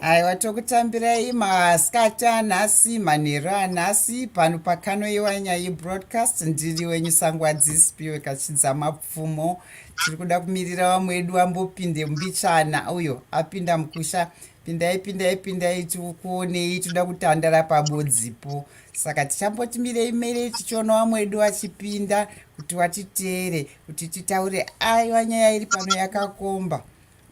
aiwa tokutambirai masikati anhasi manheru anhasi pano pakanoiwa nyaya yebroadcast ndiri wenyu sangwadzispiwe kachidza mapfumo tiri kuda kumirira vamwe wedu vambopinde mbichana uyo apinda mukusha pindai pindai pindai tikuonei toda kutandara pabodzipo saka tichambotimirei mere tichiona vamwe wedu vachipinda kuti vatiteere kuti titaure aiwa nyaya iri pano yakakomba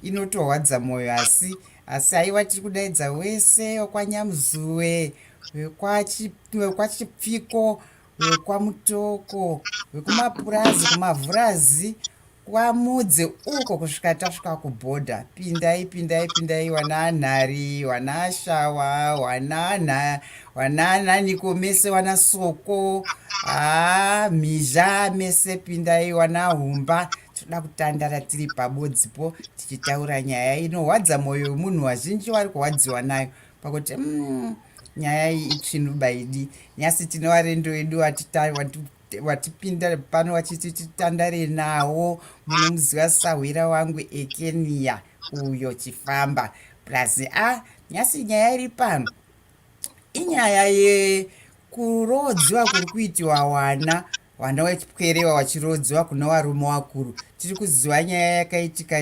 inotorwadza mwoyo asi asi aiwa tiri kudaidza wese wekwanyamuzuwe wekwachipfiko wekwamutoko wekumapurazi kumavhurazi kwamudze uko kusvika tasvika kubhodha pindai pindai pindai wananhari wanashawa wananha wanananiko mese wana soko haa ah, mhizha mese pindai wana humba toda kutandara tiri pabodzipo tichitaura nyaya inorwadza mwoyo wemunhu wazhinji wari kurwadziwa nayo pakuti mm, nyaya iyi itsvinu baidi nyasi tine warendo wedu watipinda pano wachiti titandare nawo munomuziva sahwira wangu ekeniya uyo chifamba plus a ah, nyasi nyaya iri pano inyaya yekuroodziwa kuri kuitiwa wana wana wepwerewa wachiroodziwa kuna warume wakuru tiri kuziva nyaya yakaitika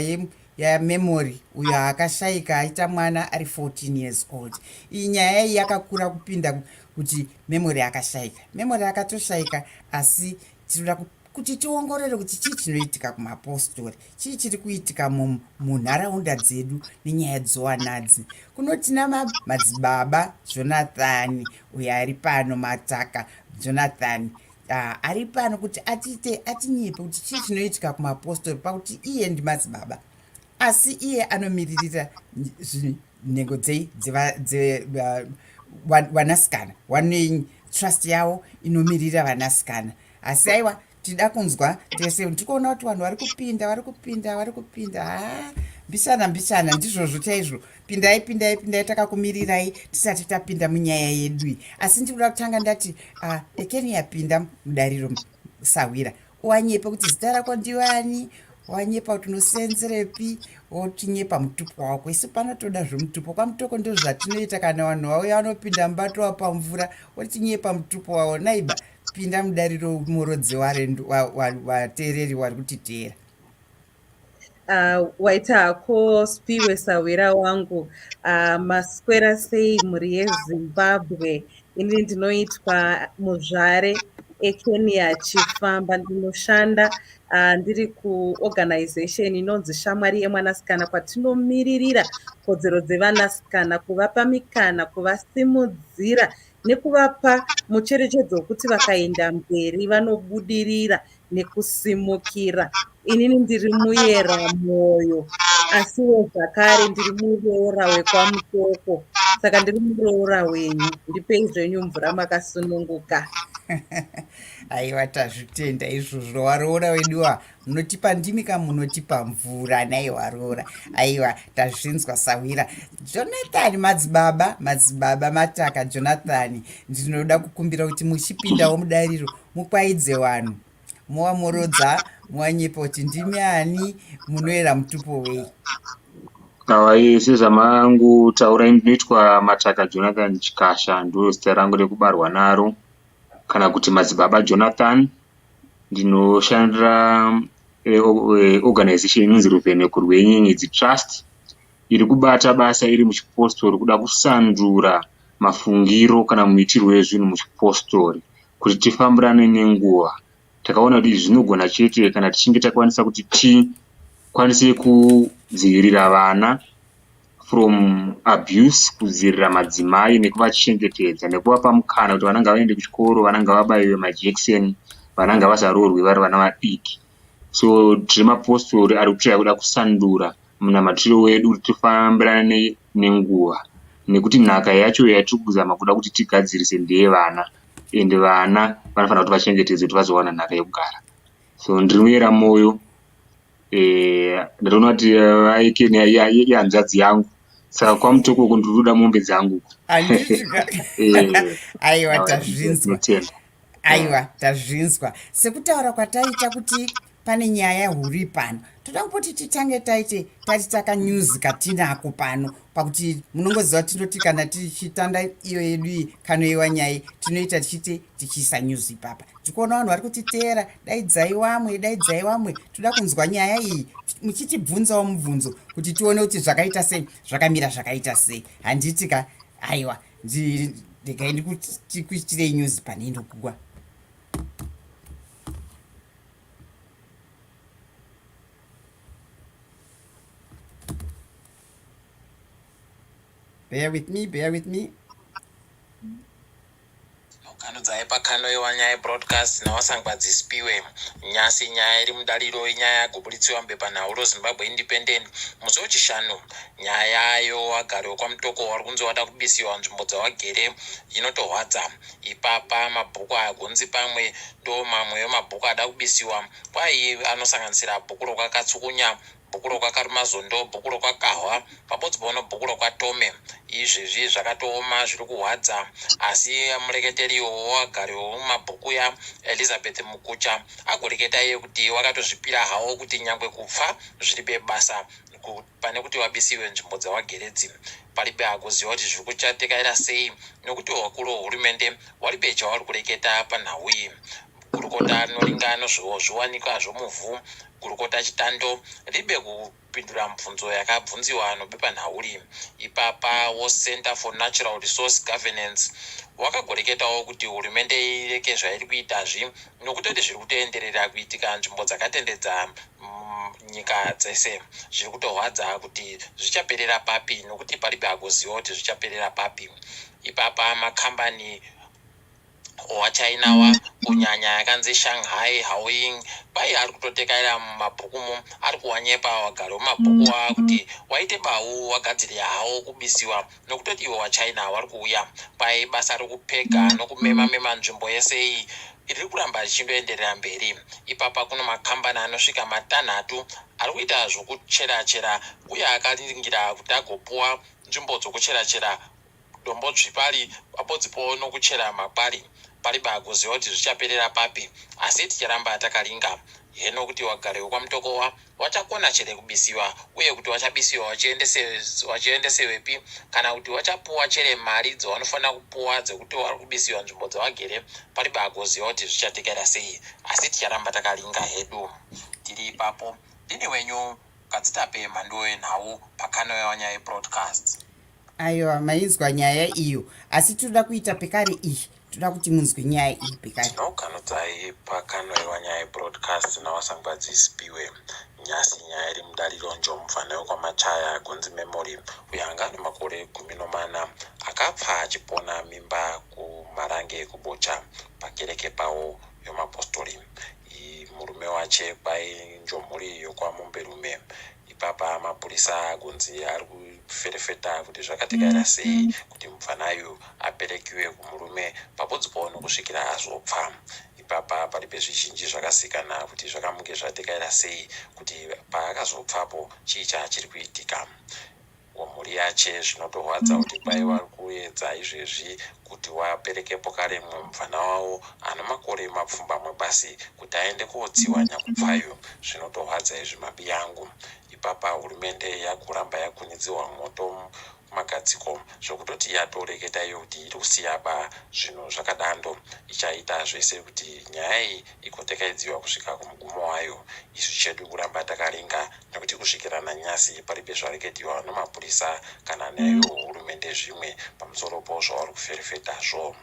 yamemory uyo akashaika aita mwana ari 14 years old iyi nyaya iyi yakakura kupinda kuti memory akashaika memory akatoshaika asi tinoda kuti tiongorore kuti chii chinoitika kumapostori chii chiri kuitika munharaunda dzedu nenyaya dzowanadzi kuno tina madzibaba jonathani uyo ari pano mataka jonathani ah, ari pano kuti atiite atinyepe kuti chii chinoitika kumapostori pakuti iye ndimadzibaba asi iye anomiririra nhengo dzei vanasikana wanei trust yavo inomirira vanasikana asi aiwa tida kunzwa tese ndikuona kuti vanhu vari kupinda vari kupinda vari kupinda haa mbishana mbishana ndizvozvo chaizvo pindai pindai pindai takakumirirai tisati tapinda munyaya yedu iyi asi ndikuda kutanga ndati uh, ekeni yapinda mudariro sahwira wanyepa kuti zita rako ndivani wanyepa kuti unosenzerepi wotinyepa mutupo wako isu pano toda zvemutupo kwamutoko ndo zvatinoita kana vanhu vauya vanopinda mubato wapamvura wotinyepa mutupo wavo naiba pinda mudariro morodzi wateereri wari kutiteera Uh, waita hako spiwe sahwira wangu uh, maswera sei mhuri yezimbabwe ini ndinoitwa muzvare ekenya chifamba ndinoshanda uh, ndiri kuorganization inonzi shamwari yemwanasikana kwatinomiririra kodzero dzevanasikana kuvapa mikana kuvasimudzira nekuvapa mucherechedzo wekuti vakaenda mberi vanobudirira nekusimukira. Inini ndiri muyera mwoyo, asiwo zvakare ndiri muroora wekwaMutoko, saka ndiri muroora wenyu. Ndipei zvenyu mvura makasununguka. Aiwa, tazvitenda izvozvo. Waroora weduwa, munotipa ndimi ka munotipa mvura naiwa roora aiwa tazvinzwa sahwira jonathan madzibaba madzibaba mataka jonathan ndinoda kukumbira kuti muchipindawo mudariro mukwaidze wanhu mowa morodza mowanyepa kuti ndimi ani munoera mutupo wei awai sezvamangu taurai ndinoitwa mataka jonathan chikasha ndiro zita rangu rekubarwa naro kana kuti madzibaba jonathan ndinoshandira organization inonzi ruveneko rwenyenyedzi trust iri kubata basa iri muchipostori kuda kusandura mafungiro kana muitirwo ezvinhu muchipostori kuti tifambirane nenguva takaona kuti izvi zvinogona chete kana tichinge takwanisa kuti tikwanise kudzivirira vana from abuse kudzirira madzimai nekuvachengetedza nekuvapa mukana kuti vana ngavaende kuchikoro vana ngavabaiwe majekiseni vana ngavasaroorwi vari vana vadiki so tiri mapostori ari kutsvaya kuda kusandura munamatiro wedu kuti tifambirane nenguva nekuti nhaka yacho yatiri kuzama kuda kuti tigadzirise ndeye vana ende vana vanofanira kuti vachengetedze kuti vazowana nhaka yekugara so ndiri muyera mwoyo Eh, ndinoona kuti aikeni eh, ihanzvadzi yangu saka kwamutuku uku ndinoda mombe dzangu aiwa tazvinzwa aiwa tazvinzwa sekutaura kwataita kuti pane nyaya huru ipano toda kupoti titange taite tati taka news katinako pano pakuti munongoziva tinoti kana tichitanda iyo yedu iyi kanoiwa nyaya tinoita tichiti tichiisa news ipapa tikuona vanhu vari kutiteera daidzai wamwe daidzai wamwe toda kunzwa nyaya iyi muchitibvunzawo mubvunzo kuti tione kuti zvakaita sei zvakamira zvakaita sei handiti ka aiwa regai ndikuitirei news pane inokugwa bear with me bear with me Nokanudzai pakanoiwa nyaya broadcast naWasangwa Dzisipiwe Nyasi nyaya iri mudaliro inyaya yagobuditsiwa mubepanhau roZimbabwe Independent musi weChishanu. Nyaya yayo wagari wekwaMutoko wari kunzi wada kubisiwa nzvimbo dzawagere inotorwadza. Ipapa mabhuku aya kunzi pamwe ndomamwe emabhuku ada kubisiwa kwaiye anosanganisira bhuku rokwaKatsukunya Bhukuro kwa Karumazondo, bhukuro kwa Kahwa, pabodzbono bhukuro kwa Tome. Izvezvi zvakatooma zviri kuhwadza asi mureketeri uyo wagari wemumabhuku uya Elizabeth Mukucha agoreketa iye kuti wakatozvipira hawo kuti nyangwe kupfa zviribe basa ku- pane kuti vabisiwe nzvimbo dzavagere idzi. Paribe agoziva kuti zviri kuchatekaira sei nekuti vakuru vehurumende varibe chavari kureketa panhau iyi. Gurukota Noringa anozviwo zviwanikwa zvomuvhu Gurukota Chitando ribe kupindura mubvunzo yakabvunziwa anobepanhau ri ipapa woCenter for Natural Resource Governance wakagoreketawo kuti hurumende ireke zvairi kuita zvi nokutoti zviri kutoenderera kuitika nzvimbo dzakatendedza nyika dzese zviri kutorwadza kuti zvichaperera papi nokuti paribe agoziva kuti zvichaperera papi ipapa makambani waChina wa kunyanya yakanzi Shanghai Haoying kwai ari kutotekaira mumabhuku mo ari kuwanyepa wagari wemabhuku waa kuti waite bawu wagadzire hawo kubisiwa nokutoti iwe waChina wari kuuya kwai basa rokupega nokumema mema nzvimbo yese iyi riri kuramba richindoenderera mberi ipapa kuno makambani anosvika matanhatu ari kuita zvokucherachera uye akaringira kuti agopuwa nzvimbo dzokucherachera Dombodzvi pari pabodzipowo nokuchera makwari pari baakuziva kuti zvichaperera papi asi ticharamba takaringa heno kuti wagari wekwaMutokowa wachakona chere kubisiwa uye kuti wachabisiwa wachiendesewepi kana kuti wachapuwa chere mari dzawanofanira kupuwa dzekuti wari kubisiwa nzvimbo dzawagere pari baakuziva kuti zvichatekera sei asi ticharamba takaringa hedu tiri ipapo ndini wenyu kadzitape mhanduwe nhau pakanoyawanyai broadcast Aiwa mainzwa nyaya iyo asi tinoda kuita pekare iyi toda kuti munzwe nyaya iyi pekare tinokanudzai pakanoiwa nyaya yebroadcast nawasangwadzi isipiwe nyasi nyaya iri mudariro njomufana wekwamachaya kunzi memory uyo anga ane makore gumi nomana akapfa achipona mimba kumarange kubocha pakereke pawo yomapostori murume wache kwainjomhuri yokwamomberume ipapa mapurisa akunzi ari kuferefeta kuti zvakatikaira mm, sei mm. kuti mupfana uyu aperekiwe kumurume papodzi paono kusvikira azopfa ipapa pari pezvizhinji zvakasikana kuti zvakamuke zvatikaira sei kuti paakazopfapo chii chaachiri kuitika wemhuri yache zvinotorwadza kuti kwai vari kuedza izvezvi kuti waperekepo kare mumwe mupfana wavo ano makore mapfumbamwe basi kuti aende kootsiwa nyakupfayo zvinotorwadza izvi mabi yangu ipapa hurumende yakuramba yakunidziwa moto magadziko zvokutoti yatoreketa iyo kuti iri kusiyaba zvinhu zvakadando ichaita zvese kuti nyaya iyi igotekaidziwa kusvika kumugumo wayo isu chedu kuramba takaringa nekuti kusvikira nanyasi paripi zvareketiwa nemapurisa kana neyo hurumende zvimwe pamusoro po zvavari kuferefetazvo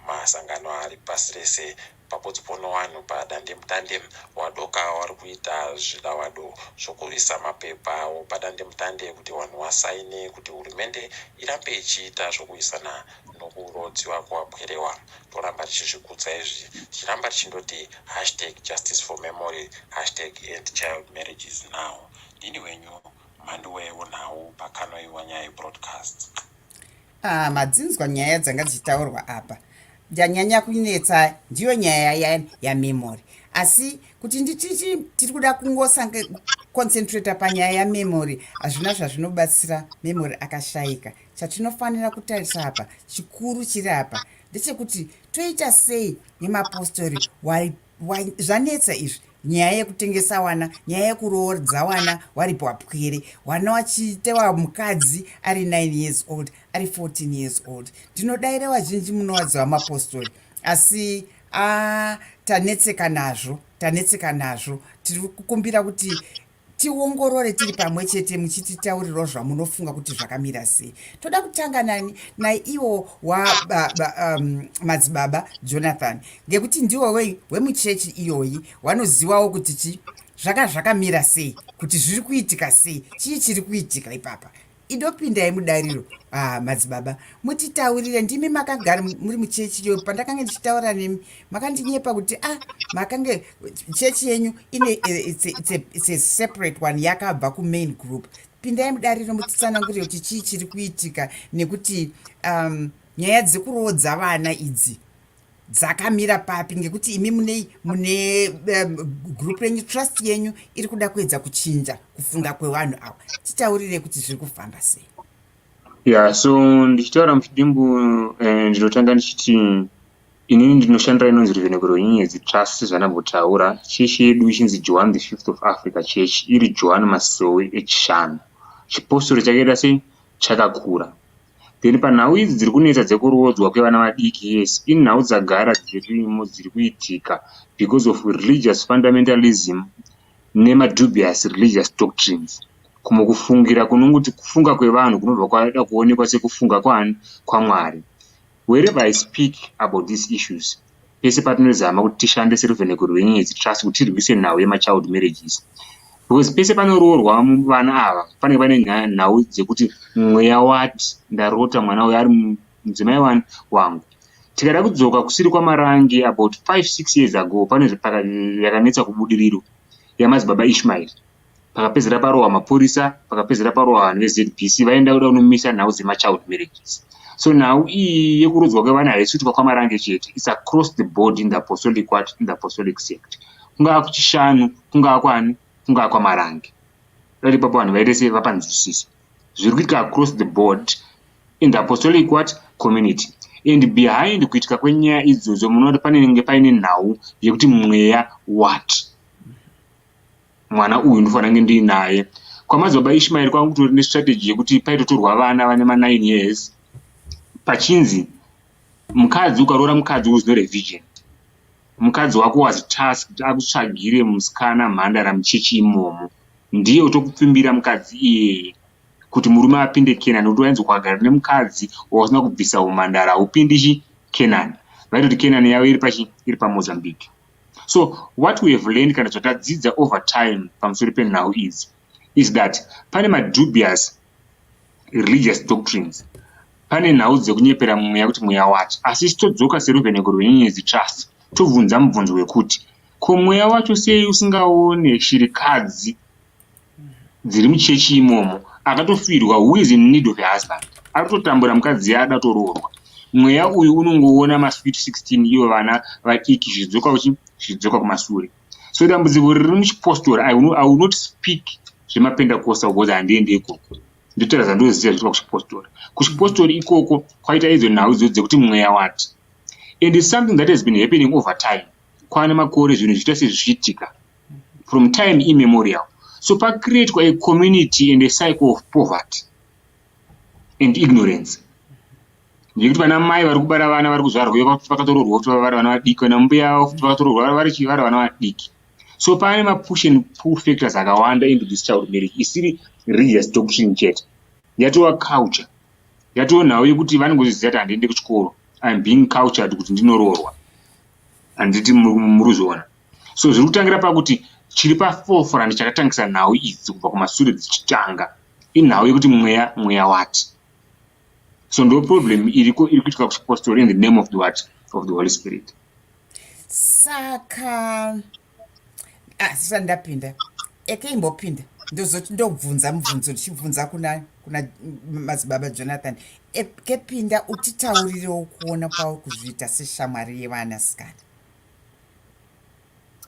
masangano ari pasi rese papodzipo newanhu padandemutande wadoka wari kuita zvidavado zvokurwisa mapepa awo padandemutande kuti wanhu wasaine kuti hurumende irambe ichiita zvokurwisana nokurodziwa kwapwere wa toramba tichizvikudza izvi tichiramba tichindoti hashtag justice for memory hashtag end child marriages now ndini wenyu mhandi wewo nhau pakanoiwa nyaya broadcast ah, madzinzwa nyaya dzanga dzichitaurwa apa ndanyanya kunetsa ndiyo nyaya ya, ya memory asi kuti ndititi tiri kuda kungosange concentrata panyaya yamemory hazvina zvazvinobatsira memory akashaika chatinofanira kutarisa apa chikuru chiri apa ndechekuti toita sei nemapostori zvanetsa izvi nyaya yekutengesa wana nyaya yekuroodza wana waripo wapwere wana wachitewa mukadzi ari 9 years old ari 14 years old ndinodaira vazhinji munowadziwa mapostori asi a tanetseka nazvo tanetseka nazvo tiri kukumbira kuti tiongorore tiri pamwe chete muchititaurirwa zvamunofunga kuti zvakamira sei toda kutanga nani naiwo wamadzibaba um, jonathan ngekuti ndiwo wei wemuchechi iyoyi wanozivawo kuti chi zvaka zvakamira sei kuti zviri kuitika sei chii chiri kuitika ipapa indopindai mudariro ah, madzibaba mutitaurire ndimi makagara muri muchechi yo pandakange ndichitaura nemi makandinyepa kuti ah makange chechi yenyu ine eh, it's a, it's a, it's a separate one yakabva kumain group pindai mudariro mutitsanangurire kuti chii chiri kuitika nekuti um, nyaya dzekuroodza vana idzi dzakamira papi ngekuti imi mune mune group renyu trust yenyu iri kuda kuedza kuchinja kufunga kwevanhu ava titaurire kuti zviri kufamba sei ya so ndichitaura muchidimbu eh, ndinotanga ndichiti inini ndinoshandira inonzi ruvenekero nyenyedzi trust zvanambotaura chechi yedu ichinzi johan the fifth of africa chechi iri johan masowe echishanu chipostori chakaita sei chakakura Then panhau idzi dziri kunetsa dzekuroodzwa kwevana vadiki yes inhau dzagara dzirimo dziri kuitika because of religious fundamentalism nemadubious religious doctrines kumwe kufungira kunongoti kufunga kwevanhu kunobva kwada kuonekwa sekufunga kwani kwamwari wherever i speak about these issues pese patinozama kuti tishande seruveneko rwenyedzi trust kuti tirwise nhau yemachild marriages because pese panoroorwa vana ava pane pane nhau dzekuti mweya wati ndarota mwana uyo ari mudzimai wani wangu tikada kudzoka kusiri kwamarange about 56 years ago pane yakanetsa kubudiriro yamadzibaba ishmael pakapedzera parohwa mapurisa pakapedzera parohwa vanhu vezbc vaenda kuda kunomisa nhau dzemachild marriages so nhau iyi yekurodzwa kwevana haisi kuitwa kwamarange chete its across the board in the apostolic wat in the apostolic sect kungava kuchishanu kungava kwani kungava kwamarange dati papa vanhu vaite sei vapanzwisisa zviri kuitika across the board in the apostolic wat community and behind kuitika kwenyaya idzodzo munoona kuti panenge paine nhau yekuti mweya wat mwana uyu ndofanira kunge ndiinaye kwamadzibaba ishmaeri kwanga kutori nestrategy yekuti paitotorwa vana vane ma9 years pachinzi mukadzi ukaroora mukadzi was not a vision mukadzi wako was tasked akutsvagire musikana mhandara muchechi imomo ndiye utokupfimbira mukadzi iyeye kuti murume apinde kenani kuti wainzi kwagara nemukadzi wausina kubvisa umhandara haupindichi kenani vaitoti kenani yavo iri pachi iri pamozambique so what we have learned kana zvatadzidza over time pamusoro penhau idzi is that pane madubious religious doctrines pane nhau dzekunyepera mweya kuti mweya wacho asi chitodzoka seruvheneko rwenyenyedzi trust tobvunza mubvunzo wekuti ko mweya wacho sei usingaone shirikadzi dziri muchechi imomo akatofirwa who is in need of a husband ari kutotambura mukadzi yaada toroorwa mweya uyu unongoona masweet 16 ivo vana vadiki zvichidzoka uchi zvichidzoka kumasure so dambudziko riri muchipostora i will not speak zvemapendakosta because handiende ikoko ndotaura zvandoziva zviitwa kuchipostori kuchipostori ikoko kwaita idzo nhau idzo dzekuti mweya wati and its something that has been happening over time kwana makore zvinhu zviita sezvichiitika from time immemorial so pacreatwa a community and a cycle of poverty and ignorance nekuti vana mai vari kubara vana vari kuzvarwa vakatororwa kuti vavara vana vadiki vana mbuya avo futi vakatororwa vari chivara vana vadiki so pane mapush and pull factors akawanda into this child marriage isiri religious doctrine chete yatova culture yatova nhau yekuti vanongozviziva kuti handiende kuchikoro im being cultured kuti ndinoroorwa handiti muruzviona so zviri kutangira pakuti chiri pafoforani chakatangisa nhau idzi kubva kumasure dzichitanga inhau yekuti mweya mweya wati so ndo problem iriko iri kuitika kuchipostori in the name of the wat of the holy spirit saka asisa ah, ndapinda ekeimbopinda ndozoti ndobvunza mubvunzo ndichibvunza kuna kuna madzibaba jonathan ekepinda utitaurirewo kuona kwawo kuzviita seshamwari yevanasikana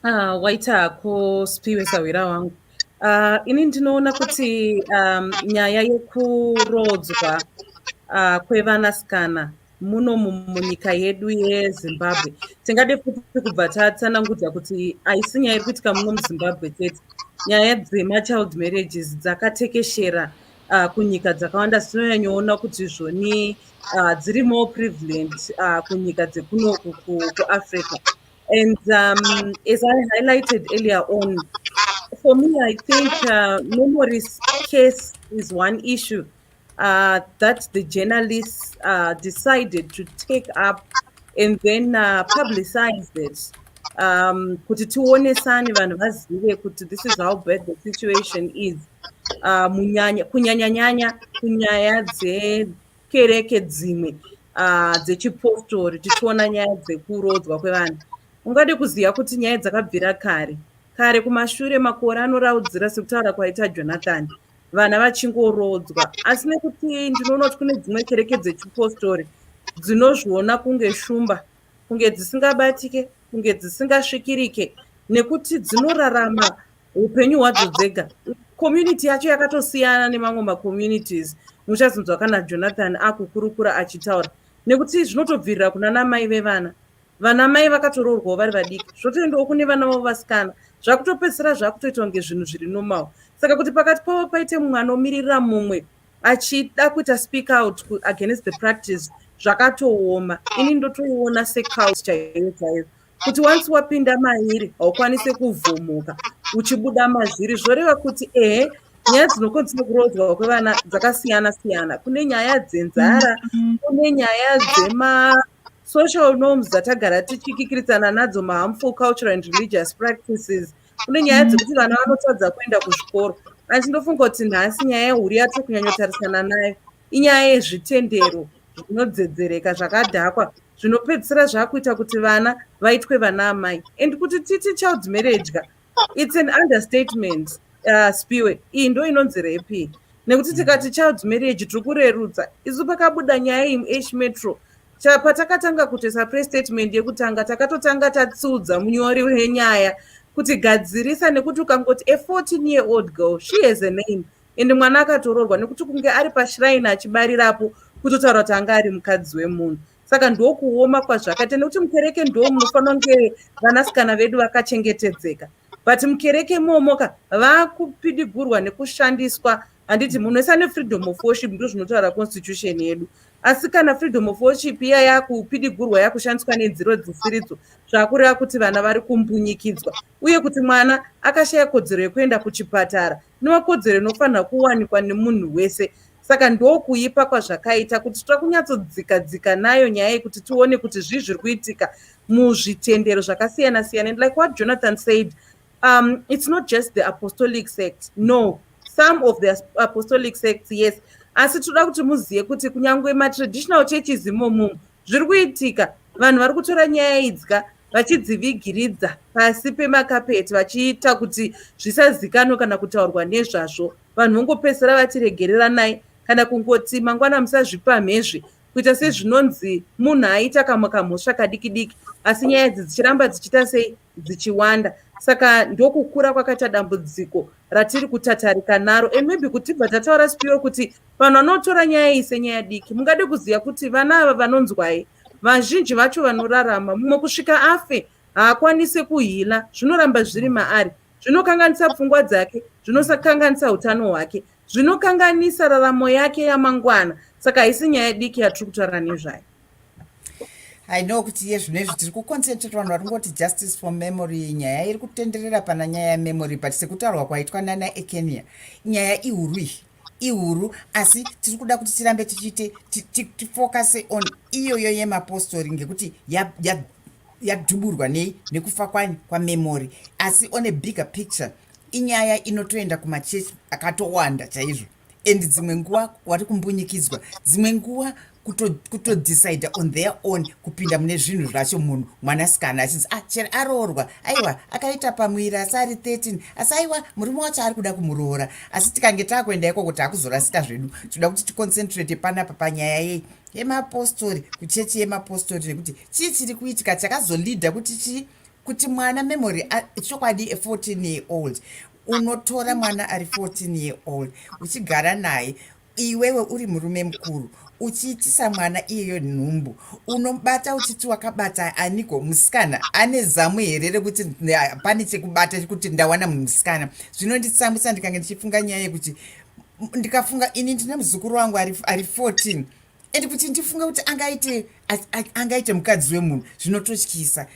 Ah, waita hako spiwe sahwira wangu ah, ini ndinoona kuti um, nyaya yekuroodzwa uh, kwevanasikana muno munyika yedu yezimbabwe tingade futi kubva tatsanangudza kuti haisi nyaya iri kuitika muno muzimbabwe chete nyaya dzemachild marriages dzakatekeshera uh, kunyika dzakawanda tinonyanyoona kuti zvoni uh, dziri more prevalent uh, kunyika dzekunoku kuafrica and um, as i highlighted earlier on for me i think uh, memories case is one issue uh, that the journalists uh, decided to take up and then uh, publicize it um, kuti tionesane vanhu vazive kuti this is how bad the situation is uh, munyanya kunyanyanyanya kunyaya dzekereke dzimwe uh, dzechipostori tichiona nyaya dzekuroodzwa kwevanhu ungade kuziva kuti nyaya dzakabvira kare kare kumashure makore anoraudzira sekutaura kwaita jonathani vana vachingoroodzwa asi nekuti ndinoona kuti kune dzimwe kereke dzechipostori dzinozviona kunge shumba kunge dzisingabatike kunge dzisingasvikirike nekuti dzinorarama upenyu hwadzo dzega community yacho yakatosiyana nemamwe macommunities muchazonzwa kana jonathan akukurukura achitaura nekuti zvinotobvirira kuna namai vevana vana mai vakatoroorwawo vari vadiki zvotoendawo kune vana vavo vasikana zvakutopedzisira zvakutoita kunge zvinhu zviri normal saka kuti pakati pavo paite mumwe anomiririra mumwe achida kuita speak out against the practice zvakatooma ini ndotoona secout chaiyo chaiyo kuti once wapinda mairi haukwanise kuvhomoka uchibuda mazviri zvoreva kuti ehe nyaya dzinokonzera kuroodzwa kwevana dzakasiyana siyana kune nyaya dzenzara kune nyaya dzema social norms dzatagara tichikikiritsana nadzo maharmful cultural and religious practices mm -hmm. kune nyaya dzekuti vana vanotadza kuenda kuzvikoro asi ndofunga kuti nhasi nyaya yehuri yatiri kunyanyotarisana nayo inyaya yezvitendero zvinodzedzereka zvakadhakwa zvinopedzisira zvakuita kuti vana vaitwe vana amai and kuti titi child marriage ka its an understatement uh, spiwe iyi ndo inonzi repi nekuti tikati child marriage tiri kurerutsa isu pakabuda nyaya iyi muash metro patakatanga kutoisa press statement yekutanga takatotanga tatsudza munyori wenyaya kuti gadzirisa nekuti ukangoti a 14 year old girl she has a name and mwana akatoroorwa nekuti kunge ari pashiraini achibarirapo kutotaura kuti anga ari mukadzi wemunhu saka ndokuoma kwazvakaita nekuti mukereke ndo munofanira kunge vanasikana vedu vakachengetedzeka but mukereke momoka vakupidigurwa nekushandiswa handiti munhu wese ane freedom of worship ndo zvinotaura constitution yedu asi kana freedom of worship iya yakupidigurwa yakushandiswa nenziro dzisiridzo zvakureva kuti vana vari kumbunyikidzwa uye kuti mwana akashaya kodzero yekuenda kuchipatara inova kodzero inofanirwa kuwanikwa nemunhu wese saka ndokuipa kwazvakaita kuti tira kunyatsodzika dzika nayo nyaya yekuti tione kuti zvii zviri kuitika muzvitendero zvakasiyana siyana and like what jonathan said um, it's not just the apostolic sect no some of the apostolic sects yes asi tinoda kuti muzive kuti kunyange matraditional churches imomumu zviri kuitika vanhu vari kutora nyaya idzika vachidzivigiridza pasi pemakapeti vachiita kuti zvisazikanwe kana kutaurwa nezvazvo vanhu vongopedzisira vati regereranai kana kungoti mangwana musazvipamhezvi kuita sezvinonzi munhu aita kamwe kamhosva kadiki diki asi nyaya idzi dzichiramba dzichiita sei dzichiwanda saka ndokukura kwakaita dambudziko ratiri kutatarika naro and maybe kutibva tataura sipiro kuti vanhu vanotora nyaya iyi senyaya diki mungade kuziva kuti vana ava vanonzwai vazhinji vacho vanorarama mumwe kusvika afe haakwanise kuhila zvinoramba zviri maari zvinokanganisa pfungwa dzake zvinosakanganisa utano hwake zvinokanganisa raramo yake yamangwana saka haisi nyaya diki yatiri kutaura nezvayo i know kuti iye zvino izvi tiri kuconcentrate vanhu vari kungoti justice for memory nyaya iri kutenderera pana nyaya yememory but sekutaurwa kwaitwa nana ekenia nyaya ihuru iyi ihuru asi tiri kuda kuti tirambe tichiite tifocuse on iyoyo yemapostori ngekuti yadhuburwa nei nekufa kwani kwamemory asi on a bigger picture inyaya inotoenda kumachechi akatowanda chaizvo and dzimwe nguva wari kumbunyikidzwa dzimwe nguva kutodecide on their own kupinda mune zvinhu zvacho munhu mwanasikana achinzi ah chero aroorwa aiwa akaita pamwiri asi ari 13 asi aiwa murume wacho ari kuda kumuroora asi tikange takuenda ikoko takuzorasika zvedu tinoda kuti ticoncentrate panapa panyaya yei yemapostori kuchechi yemapostori nekuti chii chiri kuitika chakazolida kuti chii kuti mwana memory chokwadi 14 year old unotora mwana ari 14 year old uchigara naye Iwewe uri murume mukuru uchiitisa mwana iyeyo nhumbu unobata uchiti wakabata aniko musikana ane zamu here rekuti pane chekubata kuti ndawana musikana zvinonditsamwisa ndikange ndichifunga nyaya yekuti ndikafunga ini ndine muzukuru wangu ari 14 and kuti ndifunga kuti angaite angaite mukadzi wemunhu zvinototyisa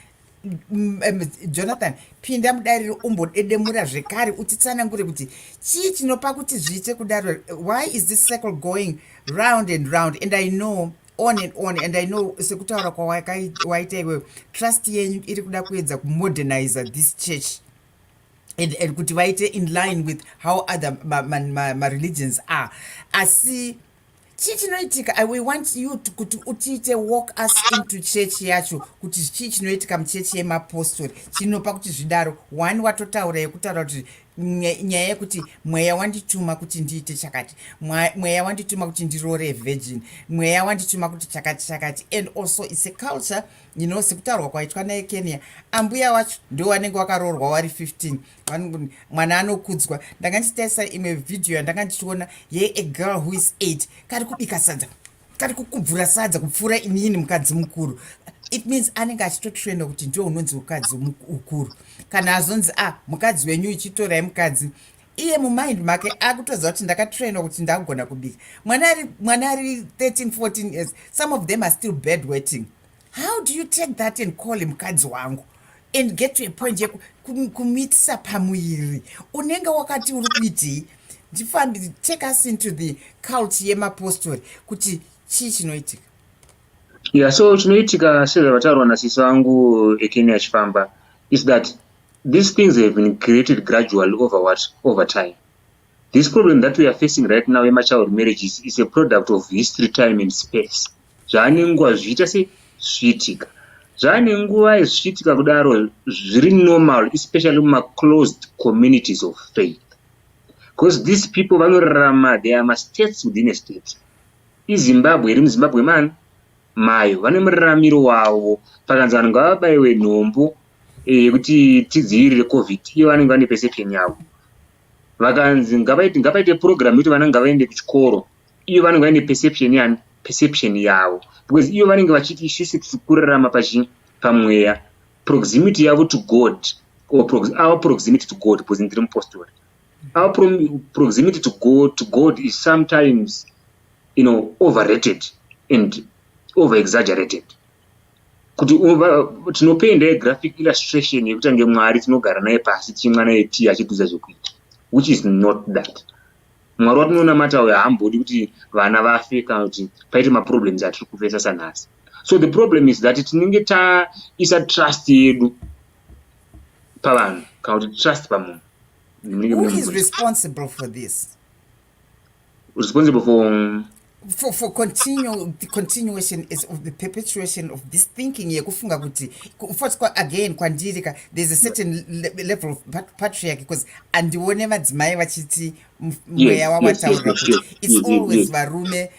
jonathan pinda mudariro umbodedemura zvekare utitsanangure kuti chii chinopa kuti zviite kudaro why is this circle going round and round and i know on and on and i know sekutaura kwawaita iwewe trust yenyu iri kuda kuedza kumoderniza this church and, and kuti vaite in line with how other mareligions ma, ma, ma are asi chii chinoitika we want you kuti utiite walk us into church yacho kuti chii chinoitika muchechi yemapostori chinopa kuti zvidaro one watotaura yekutaura kuti nyaya yekuti mweya wandituma kuti ndiite chakati mweya wandituma kuti ndiroore virgin mweya wandituma kuti chakati chakati and also its a culture you know sekutaurwa kwaitwa naye kenya ambuya wacho ndo wanenge wakaroorwa wari 15 mwana anokudzwa ndanga ndichitarisa imwe vhidhiyo yandanga ndichiona ye a girl who is eight kari kubika sadza kari kukubvura sadza kupfuura inini mukadzi mukuru it means anenge achitotrenda kuti ndiwo unonzi mukadzi mukuru kana azonzi a ah, mukadzi wenyu ichitorai mukadzi iye mumind make akutoziva kuti ndakatrainwa kuti ndagona kubika mwana ari 13 14 years some of them are still bad wetting how do you take that and call him mukadzi wangu and get to a point yekumitisa pamuviri unenge wakati uri kuitii ndifambi take us into the cult yemapostori kuti chii chinoitika yeah so chinoitika sezvavataurwa nasisi vangu ekeni achifamba is that these things have been created gradually over what over time This problem that we are facing right now yemachild marriages is a product of history time and space zvaane nguva zvichiita se zvichiitika zvaane nguva zvichiitika kudaro zviri normal especially mumaclosed communities of faith because these people vanorarama they are mastates within a state izimbabwe iri muzimbabwe man mayo vane muraramiro wavo pakanzi vanhu ngavabaiwe nhombo eh, yekuti tidzivirire covid iyo vanenge vane perception yavo vakanzi ngavaite ngavaite program yekuti vana ngavaende kuchikoro iyo vanenge vaine perception yani perception yavo because iyo vanenge vachiti isusu tiri kurarama pachi pamweya proximity yavo to god or prox, our proximity to god because ndiri mupostori our pro, proximity to god, to god is sometimes you know overrated and over exaggerated kuti tinopenda yegraphic illustration yekuti ange mwari tinogara naye pasi tichimwa naye tii achitiudza zvekuita which is not that mwari watinonamata uyo haambodi kuti vana vafe kana kuti paite maproblems atiri kufesa sanhasi so the problem is that tinenge taisa trust yedu pavanhu kana kuti trust pamunhu who is responsible for this responsible for um, for, for continue, the continuation is of the perpetuation of this thinking yekufunga kuti first kwa, again kwandiri ka there's a certain le, level of patriarchy because andione vadzimai vachiti mweya wawataura kuti it's always varume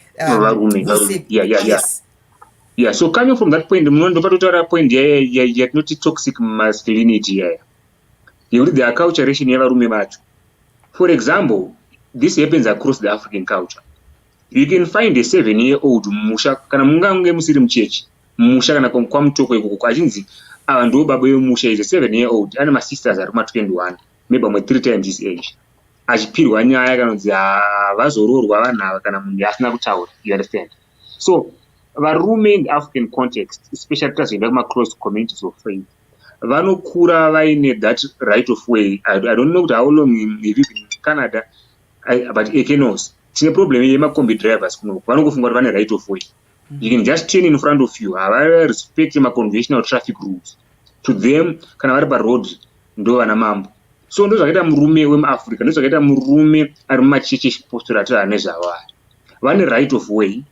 yeah so coming from that point munondo patotaura point yatinoti toxic masculinity yaya nekuti the acculturation yevarume vacho for example this happens across the african culture you can find a seven year old mumusha kana mungange musiri muchechi mumusha kana kwamutoko ikoko achinzi ava ndo baba vemusha is a seven year old ane masisters ari kuma 21 maybe amwe three times his age achipirwa nyaya kana kunzi havazoroorwa vanhu ava kana munhu asina kutaura you understand so varume in african context especially tazoenda kumaclose communities of faith vanokura vaine that right of way i, I don't know kuti how long iri canada I, but ekenos tine problem yemacombi drivers kunoko vanongofunga kuti vane right of way you can just turn in front of you havarespect maconventional traffic rules to them kana vari paroad ndo vana mambo so ndozvakaita murume wemuafrica ndozvakaita murume ari mumacheche chipostora ati ane zvavo ari vane right of way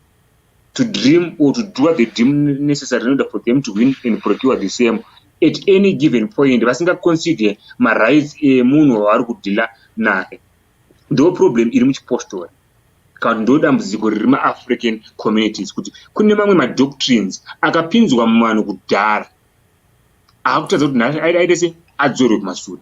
to dream or to do the dream necessary in order for them to win and procure the same at any given point vasingaconsider marights emunhu wavari kudhila naye ndo problem iri muchipostori kana kuti ndo dambudziko riri maafrican communities kuti kune mamwe madoctrines akapinzwa muvanhu kudhara akutadza kuti nhasi aida aite se adzorwe kumasure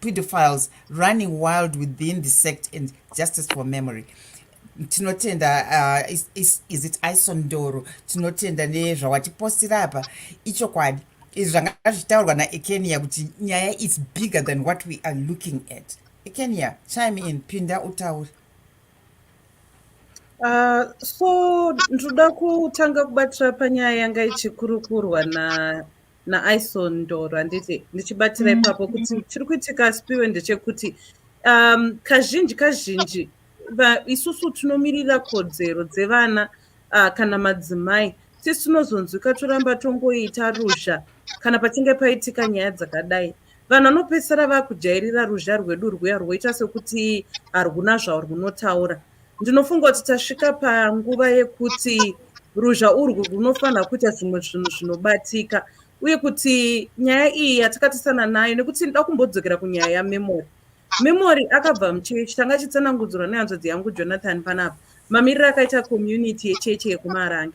pedophiles running wild within the sect and justice for memory tinotenda uh, is, is, is it ison ndoro tinotenda nezvawatipostira apa ichokwadi izvi zvanga zvichitaurwa naekenia kuti nyaya is bigger than what we are looking at ekenia chime in pinda utaure Uh, so ndoda kutanga kubatira panyaya yanga ichikurukurwa na naison ndoro handiti ndichibatira mm. ipapo kuti chiri kuitika spiwe ndechekuti um, kazhinji kazhinji isusu tinomirira kodzero dzevana uh, kana madzimai sisi tinozonzwika toramba tongoita ruzha kana pachinge paitika nyaya dzakadai vanhu vanopedzisira vakujairira ruzha rwedu rwuya rwoita sekuti harwuna zvawo rwunotaura ndinofunga kuti tasvika panguva yekuti ruzha urwu rwunofanira kuita zvimwe zvinhu zvinobatika uye kuti nyaya iyi yatakatisana nayo nekuti nda kumbodzokera kunyaya yamemory memory akabva muchechi tanga achitsanangudzirwa nehanzvadzi yangu jonathan panapa mamiriro akaita community yechechi yekumarange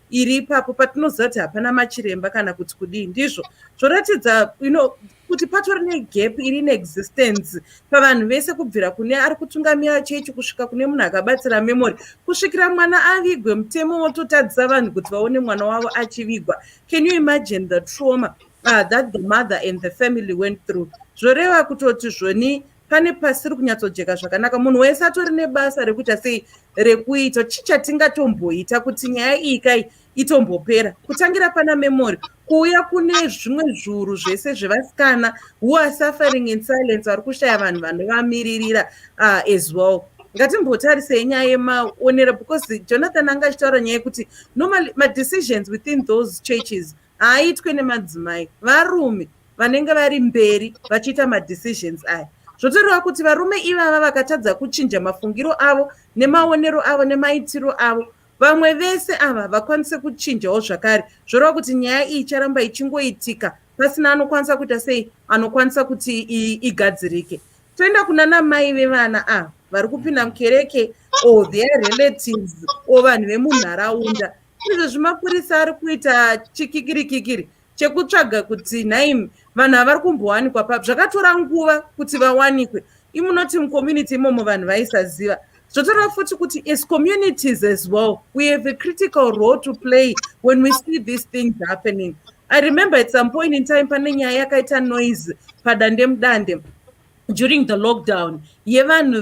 iri ipapo patinoziva kuti hapana machiremba kana kuti kudii ndizvo zvoratidza you know, kuti patori negap iri in existence pavanhu vese kubvira kune ari kutungamira chechi kusvika kune munhu akabatsira memory kusvikira mwana avigwe mutemo wototadzisa vanhu kuti vaone mwana wavo achivigwa can you imagine the trauma uh, that the mother and the family went through zvoreva kutoti zvoni pane pasiri kunyatsojeka zvakanaka munhu wese atori nebasa rekuita sei rekuita chii chatingatomboita kuti nyaya iyi kai itombopera kutangira pana memory kuuya kune zvimwe zviuru zvese zvevasikana who are suffering in silence vari kushaya vanhu vanovamiririra uh, as well ngatimbotarisei nyaya yemaonero because jonathan anga achitaura nyaya yekuti normal madecisions within those churches haaitwe nemadzimai varume vanenge vari mberi vachiita madecisions aya zvotoreva kuti varume ivava vakatadza kuchinja mafungiro avo nemaonero avo nemaitiro avo vamwe vese ava vakwanise kuchinjawo zvakare zvoreva kuti nyaya iyi icharamba ichingoitika pasina anokwanisa kuita sei anokwanisa kuti igadzirike toenda kuna namai vevana ava vari kupinda mukereke or their relatives or vanhu vemunharaunda izvezvi mapurisa ari kuita chikikiri kikiri chekutsvaga kuti nhaimi vanhu havari kumbowanikwa papi zvakatora nguva kuti vawanikwe imunoti mucommunity imomo vanhu vaisaziva zvotora futi kuti as communities as well we have a critical role to play when we see these things happening i remember at some point in time pane nyaya yakaita noise padandemudande during the lockdown yevanhu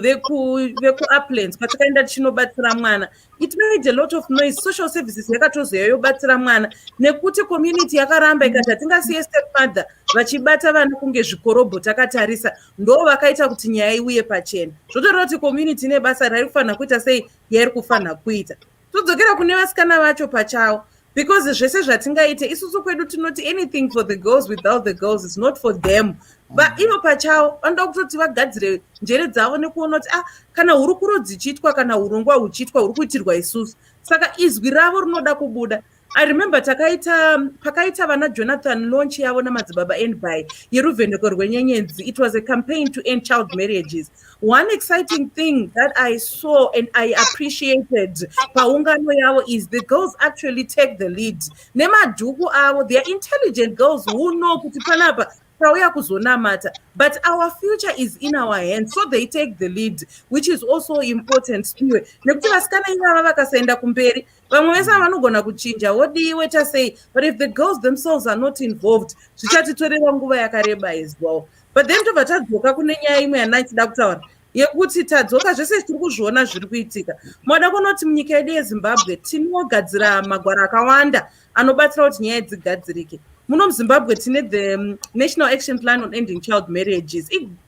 vekuuplands patakaenda tichinobatsira mwana it made a lot of noise social services yakatozoya yobatsira mwana nekuti community yakaramba ikati hatingasiye stepmother vachibata vana kunge zvikorobho takatarisa ndo vakaita kuti nyaya iuye pachena zvotoreva kuti community ine basa rairi kufanira kuita sei yairi kufanira kuita todzokera kune vasikana vacho pachavo because zvese zvatingaite isusu kwedu tinoti anything for the girls without the girls is not for them but ivo pachavo vanoda kutoti vagadzire njere dzavo nekuona kuti ah kana hurukuro dzichiitwa kana urongwa huchiitwa huri kuitirwa isusu saka izwi ravo rinoda kubuda I remember takaita pakaita vana Jonathan launch yavo namadzibaba end by yeruvheneko rwenyenyedzi it was a campaign to end child marriages one exciting thing that I saw and I appreciated paungano yavo is the girls actually take the lead nemadhuku avo they are intelligent girls who know kuti panapa tauya kuzonamata but our future is in our hands so they take the lead which is also important spiwe nekuti vasikana ivava vakasaenda kumberi vamwe vese vanogona kuchinja wodii woita sei but if the girls themselves are not involved zvichatitorera nguva yakareba as well but then tobva tadzoka kune nyaya imwe yanai tida kutaura yekuti tadzoka zvese tiri kuzviona zviri kuitika moda kunoti munyika yedu yezimbabwe tinogadzira magwaro akawanda anobatsira kuti nyaya dzigadzirike muno muzimbabwe tine the um, national action plan on ending child marriages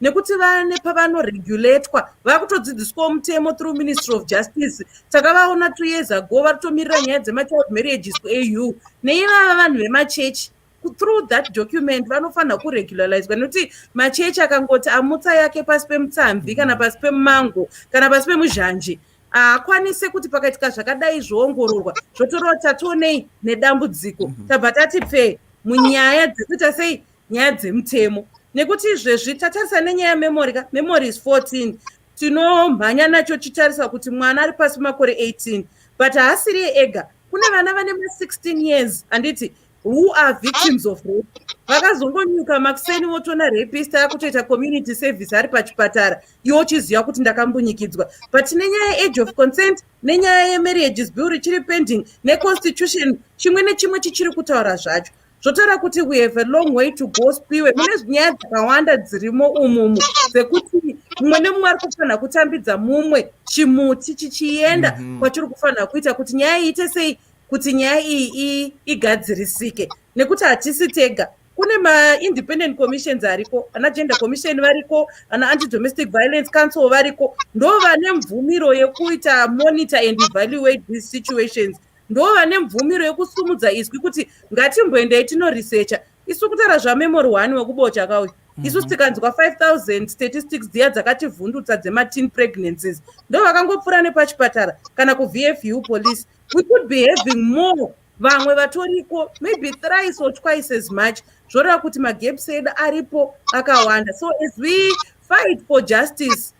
nekuti vane pavanoregulatwa vakutodzidziswawo mutemo through ministry of justice takavaona two years ago vari kutomirira nyaya dzemachild marriages kuau neivava vanhu vemachechi through that document vanofanira kuregularizwa nekuti machechi akangoti amutsa yake pasi pemutsamvi kana pasi pemumango kana pasi pemuzhanje haakwanise kuti pakaitika zvakadai zvoongororwa zvotorova tationei nedambudziko mhm. tabva tati pfee munyaya dzekuita sei nyaya dzemutemo nekuti izvezvi tatarisa nenyaya memory ka memory is 14 tinomhanya nacho chitarisa kuti mwana ari pasi makore 18 but haasiri ega kune vana vane ma 16 years handiti who are victims of rape vakazongonyuka makuseni votoona rapist akutoita community service ari pachipatara iwo chiziva kuti ndakambunyikidzwa but nenyaya yeage of consent nenyaya yemarriages bill richiri pending neconstitution chimwe nechimwe chichiri kutaura zvacho zvotaura kuti we have a long way to go spiwe mune nyaya dzakawanda dzirimo umumu dzekuti mumwe nemumwe ari kufanira kutambidza mumwe chimuti chichienda mhm. kwachiri kufanira kuita kuti nyaya iite sei kuti nyaya iyi igadzirisike nekuti hatisi tega kune maindependent commissions ariko ana gender commission variko ana anti domestic violence council variko ndo vane mvumiro yekuita monitor and evaluate these situations ndo vane mvumiro yekusumudza izwi kuti ngatimboendai tinoresearcha isu kutaura zvamemory one wekubocha kauyu mhm. isu tikanzwa 5000 statistics dziya dzakativhundutsa dzemateen pregnancies ndo vakangopfuura nepachipatara kana kuvfu police we could be having more vamwe vatoriko maybe thrice or twice as much zvoreva kuti magaps edu aripo akawanda so as we fight for justice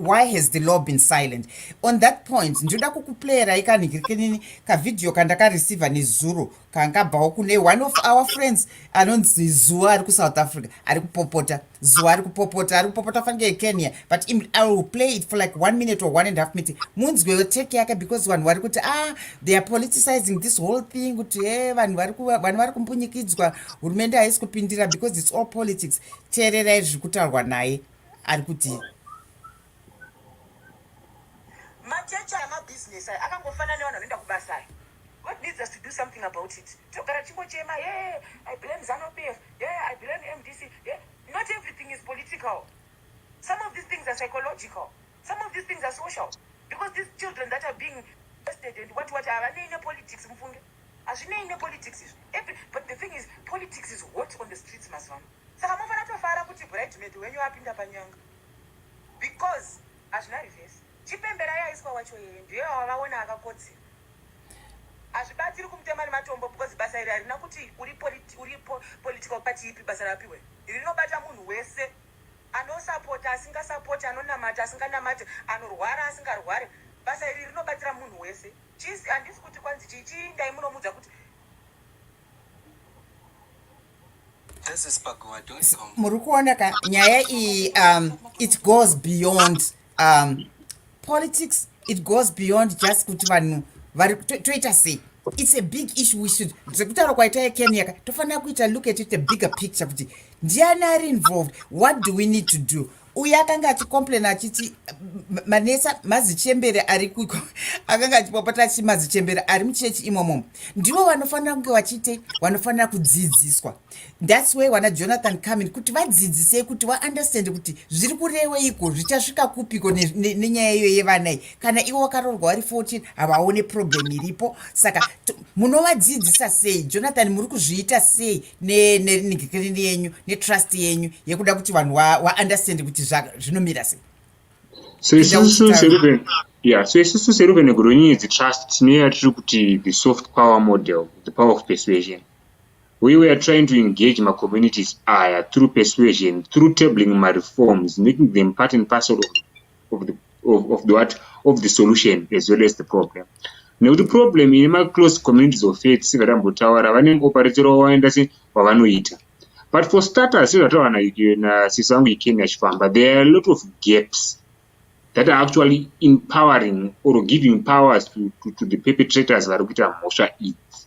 why has the law been silent on that point ndinoda kukuplayerai kanhikirikinini kavhidhiyo kandakareceiva nezuro kangabvawo kune one of our friends anonzi zuwa ari kusouth africa ari kupopota zuwa ari kupopota ari kupopota fange ekenya but i will play it for like one minute or one and half minute munzwewo take yake because vanhu vari kuti ah they are politicizing this whole thing kuti he eh, vanhu vanhu vari kumbunyikidzwa hurumende haisi kupindira because its all politics teererai zviri kutaurwa naye ari kuti machechi amabhizinesi ayo akangofanana nevanhu vanoenda kubasa ayo god needs us to do something about it togara chingochema ye i blame zanopf ye i blame mdc ye not everything is political some of these things are psychological some of these things are social because these children that are being tested and what what havanei nepolitics mufunge Hazvinei ne politics izvo. Every but the thing is politics is hot on the streets mazuva ano. Saka mofana tofara kuti bridesmaid wenyu apinda panyanga. Because hazvina reverse. Chipembera yaiswa wacho yeye ndiye wavaona akakodzera. Hazvibatsiri kumutema nematombo because basa iri harina kuti uri politi uri po, political party ipi basa rapiwe. Iri rinobata munhu wese anosapota asingasapoti anonamata asinganamati anorwara asingarwari basa iri rinobatsira munhu wese. Chisi handisi kuti kwanzi chii chii ndai munomudza kuti muri kuona ka nyaya iyi um, it goes beyond um, politics it goes beyond just kuti vanhu vari toita sei it's a big issue we should zvekutaura kwaita yekenyaka tofanira kuita look at it a bigger picture kuti ndiani ari involved what do we need to do uye akanga achicomplaina achiti manesa mazichembere ari kuiko akanga achipopota achiti mazichembere ari muchechi imomo ndivo vanofanira kunge vachiite vanofanira kudzidziswa thats way wana jonathan comin kuti vadzidzisei kuti vaunderstand kuti zviri kureweiko zvichasvika kupiko nenyaya iyo yevanai kana ivo vakaroorwa vari 14 havaone problem iripo saka munovadzidzisa sei jonathan muri kuzviita sei nenigikrini yenyu netrust yenyu yekuda kuti vanhu waunderstand wa kuti zvinomira sei so isusu seruven ya so isusu seruven negoronyedzi trust tine yatiri kuti the soft power model the power of persuasion we were trying to engage macommunities aya through persuasion through tabling mareforms making them part and parcel of of the, of, of the what of the solution as well as the problem nekuti problem ine maclose communities of faith sevatambotaura vane operatero wavaenda se wavanoita but for starters sezvataura nasiso vangu ikeni achifamba there are a lot of gaps that are actually empowering or giving powers to, to, to the perpetrators vari kuita mhosva idzi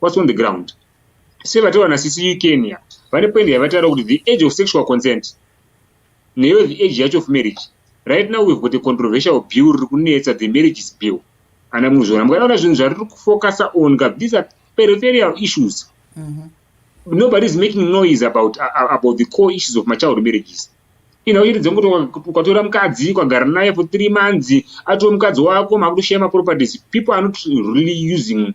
What's on the ground? Sevataura na sisi Kenya, vane point yavataura kuti the age of sexual consent neyo the age yacho of marriage. Right now we've got a controversial bill riri kunetsa the marriages bill. Ana muzvona mukataura zvinhu zvariri kufocasa on ka these are peripheral issues. Mm -hmm. Nobody is making noise about, uh, about the core issues of machild marriages. Mm ina uchiti dzekuti ukatora mukadzi ukagara naye for three months atoo mukadzi wako makutoshaya maproperties people are not really using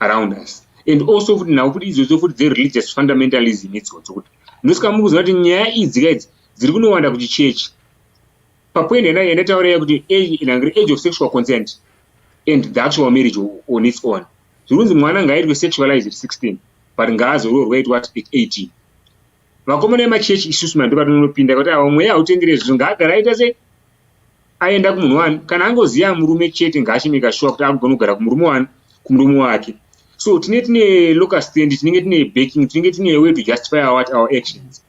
around us and also futi nhau futi idzodzo futi dzereligious fundamentalism idzodzo kuti ndosika mukuziva kuti nyaya idzi ka idzi dziri kunowanda kuti chechi papoint yanda yandataura ya kuti inangiri age of sexual consent and the actual marriage on its own zviri kunzi mwana ngaaitwe sexualized 16 but ngaazoroorwa aitwa at 18 vakomana vemachechi isusu mando vatononopinda kuti ava mweya hautengere zvinhu ngaagara aita sei aenda kumunhu wani kana angoziva murume chete ngaachimeka shuwa kuti akugona kugara kumurume wani kumurume wake so tine tine local stand tinenge tine backing tinenge tine way to justify our, our actions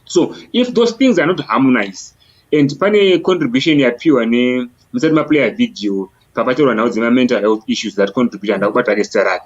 so if those things are not harmonize and pane contribution yapiwa ne musati maplayer video papataurwa nhau dzemamental health issues that contribute handakubata rake sita rake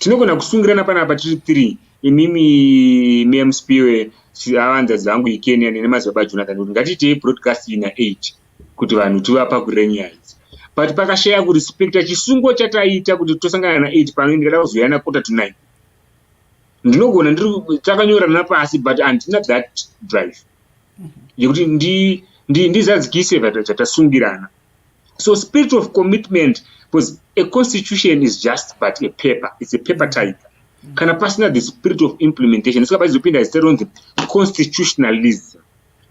Tinogona kusungirana panapa tiri three imimi Ma'am Spiwe avanzadzi vangu iKenya nene madzibaba Jonathan kuti ngatiitei broadcast ina eight kuti vanhu tivapa kurenya idzi but pakashaya kurespecta chisungo chataita kuti tosangana na eight pano ndikada kuzouya na quarter to nine ndinogona ndiri takanyorana pasi but handina that drive yekuti ndizadzikise chatasungirana so spirit of commitment because a constitution is just but a paper it's a paper type kana pasina the spirit of implementation saka paizopinda zita ronzi constitutionalism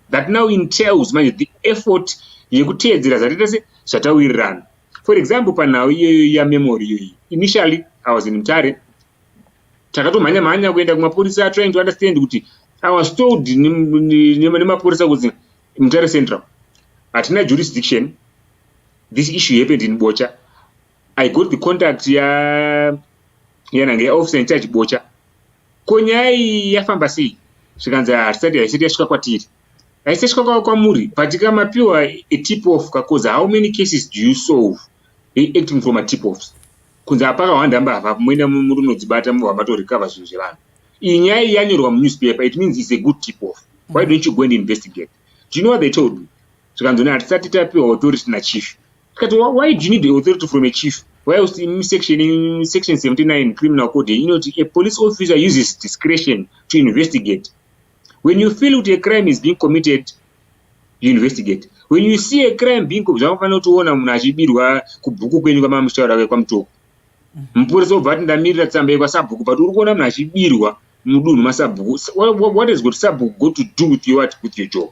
that now entails manje the effort yekuteedzera zvataita se zvatawirirana for example panhau iyoyo yamemory iyoyi initially i was in mtare takatomhanya mhanya kuenda kumapurisa trying to understand kuti i was told nemapurisa kuti Mutare Central hatina jurisdiction this issue happened in Bocha I got the contact ya yanange ya officer in charge Bocha ko nyaya iyi yafamba sei zvikanzi hatisati haisati yasvika kwatiri haisati yasvika kwamuri but kamapiwa a tip off kakoza how many cases do you solve they acting from a tip offs kunze apaka hwandamba hava mune murunodzibata mubva matorecover zvinhu zvevanhu Iyi nyaya iyi yanyorwa munewspaper it means is a good tip off why don't you go and investigate do you know what they told me zvikanzoni hatisati tapiwa authority nachief tikati why do you need authority from a chief why was in section in section 79 criminal code you know a police officer uses discretion to investigate when you feel kuti a crime is being committed you investigate when you see a crime being zvamafanira kutiona munhu achibirwa kubhuku kwenyu kwamamuchitaura kwekwamutoku mupurisa obva ati ndamirira tsamba yekwasabhuku but uri kuona munhu achibirwa mudunhu masabhuku what is got sabhuku go to do with your, with your job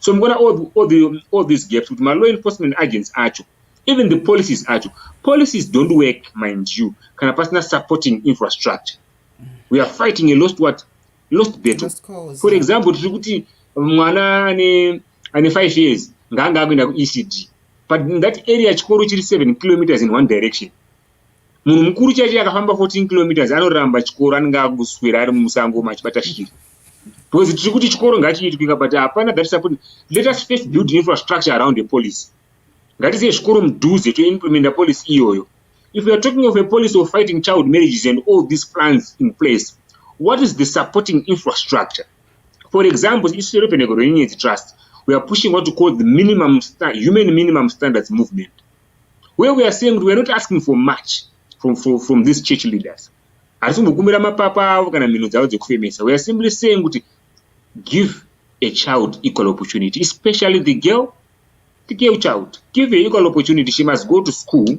so mukuona all, all, the, all these gaps kuti malaw enforcement agents acho even the policies acho policies don't work mind you kana pasina supporting infrastructure we are fighting a lost what lost battle for example tiri kuti mwana ane ane five years ngaanga akuenda kuecd but in that area chikoro chiri 7 kilometers in one direction munhu mukuru chaicho akafamba 14 kilometers anoramba chikoro anenge akuswera ari musango machibata shiri because tiri kuti chikoro ngachiitwika but hapana that support let us first build infrastructure around the police ngatizive zvikoro mudhuze toimplementa policy iyoyo if youare talking of a policy of fighting child marriages and all these plans in place what is the supporting infrastructure For example, isu seRupeneko rweNyenyedzi Trust, we are pushing what we call the minimum human minimum standards movement, where we are saying we are not asking for much from, from, from these church leaders. Hatisi kumbokumbira mapapa avo kana mhino dzavo dzekufemesa. We are simply saying kuti give a child equal opportunity, especially the girl, the girl child. Give her equal opportunity. She must go to school.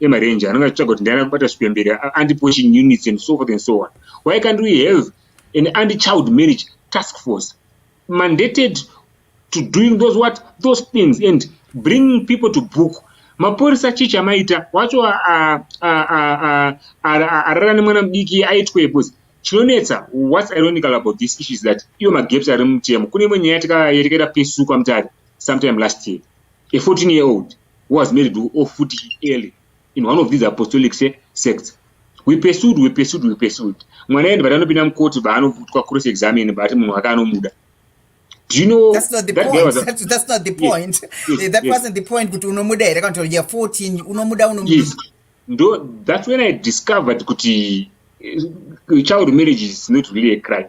emarenje anenge achitsvaga kuti ndiani akubata svipe mberi anti-poaching units and so forth and so on why can't we have an anti-child marriage task force mandated to doing those what those things and bringing people to book mapurisa chii chamaita wacho arara nemwana mudiki aitwe bcause chinonetsa whats ironical about this issue is that iwo magaps ari mutemo kune imwe nyaya yatakaita pesuka mutare sometime last year a 14 year old who was married to Ofuti Eli in one of these apostolic sects. We pursued, we pursued, we pursued. Mwana endi batanopinda mukoti baanovutwa cross examine baati munhu wake anomuda. Do you know that's not the that point. A... That's, that's not the point. Yes. Yes. That yes. wasn't the point. Kuti unomuda here kana kuti you're 14 unomuda unomuda. Yes. Ndo that's when I discovered kuti eh, child marriage is not really a crime.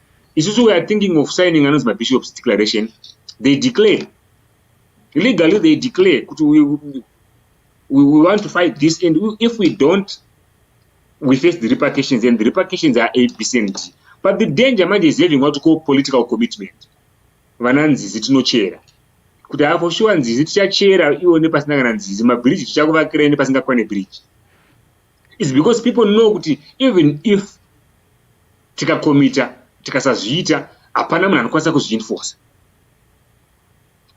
isusu weare thinking of signing anonzi mabishops declaration they declare legally they declare kuti we, we, we want to fight this and we, if we don't we face the repercussions and the repercussions are abc and d but the danger manje is having what call political commitment vana nzizi tinochera kuti haa for sure nzizi tichachera iwo nepasina kana nzizi mabridge tichakuvakira ine pasingakwane bridge is because people know kuti even if tikakomita tikasazviita hapana munhu anokwanisa kuzviinforce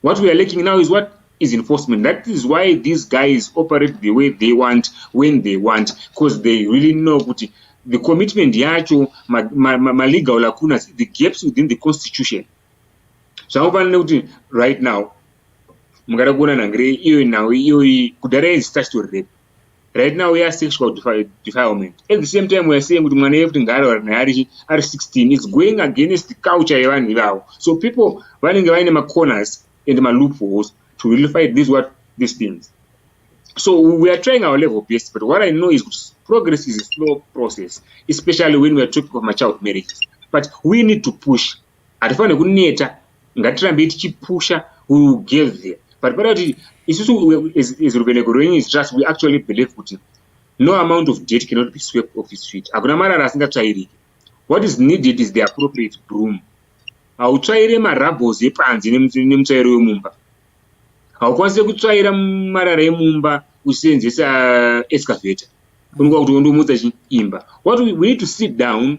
what we are laking now is what is enforcement that is why these guys operate the way they want when they want because they really know kuti the commitment yacho malegal lacunas the gaps within the constitution zvakufanira nekuti right now mungada kuona nhangire iyoyi nhau iyoyi kudhara yaizi statutory rape right now we are sexual defilement at the same time we are saying kuti mwana yekuti ngaarora naye ari ari 16 is going against culture yevanhu ivavo so people vanenge vaine macorners and maloopholes to really fight these what these things so we are trying our level best but what i know is kuti progress is a slow process especially when we are talking of machild marriages but we need to push hatifanire kuneta ngatirambei tichipusha we will get there but panoda kuti isusu as ruveneko rwenyis trust we actually believe kuti no amount of date cannot be swept off his feet hakuna marara asingatsvairiki what is needed is the appropriate broom hautsvaire marabos epanze nemutsvairo wemumba haukwanise kutsvaira marara emumba uchiseenzesa uh, excavator unokuva kuti wondomutsa chiimba what we need to sit down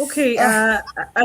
Okay, uh, I,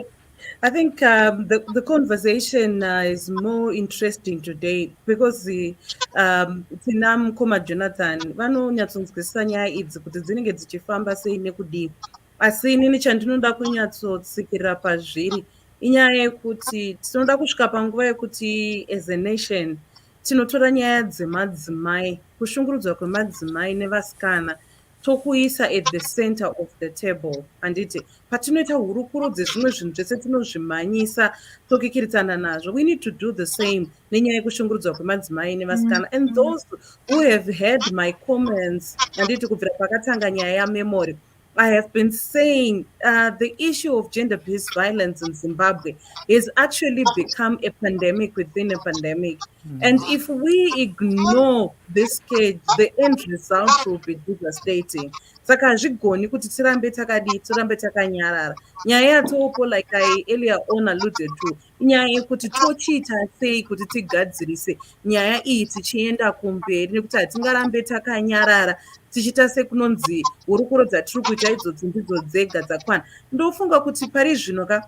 I think um, the, the conversation uh, is more interesting today because the, um, tina mukoma jonathan vanonyatsonzwisisa nyaya idzi kuti dzinenge dzichifamba sei nekudii asi inini chandinoda kunyatsotsikirira pazviri inyaya yekuti tinoda kusvika panguva yekuti as a nation tinotora nyaya dzemadzimai kushungurudzwa kwemadzimai nevasikana tokuisa at the center of the table handiti patinoita hurukuro dzezvimwe zvinhu zvese tinozvimhanyisa tokikiritsana nazvo we need to do the same nenyaya yekushungurudzwa kwemadzimai nevasikana and mm. those who have heard my comments handiti kubvira pakatanga nyaya yamemory i have been saying uh, the issue of gender based violence in zimbabwe has actually become a pandemic within a pandemic. Mm. And if we ignore this cage, the end result will be devastating. saka hazvigoni kuti tirambe takadii tirambe takanyarara nyaya yatoopo like i earlier on alluded to inyaya yekuti tochiita sei kuti tigadzirise nyaya iyi tichienda kumberi nekuti hatingarambe takanyarara tichiita sekunonzi hurukuro dzatiri kuita idzodzi ndidzo dzega dzakwana ndofunga kuti pari zvino ka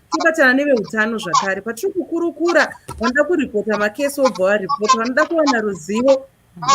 tobatana neveutano zvakare patiri kukurukura vanoda kuripota makesi wobva waripota vanoda kuwana ruzivo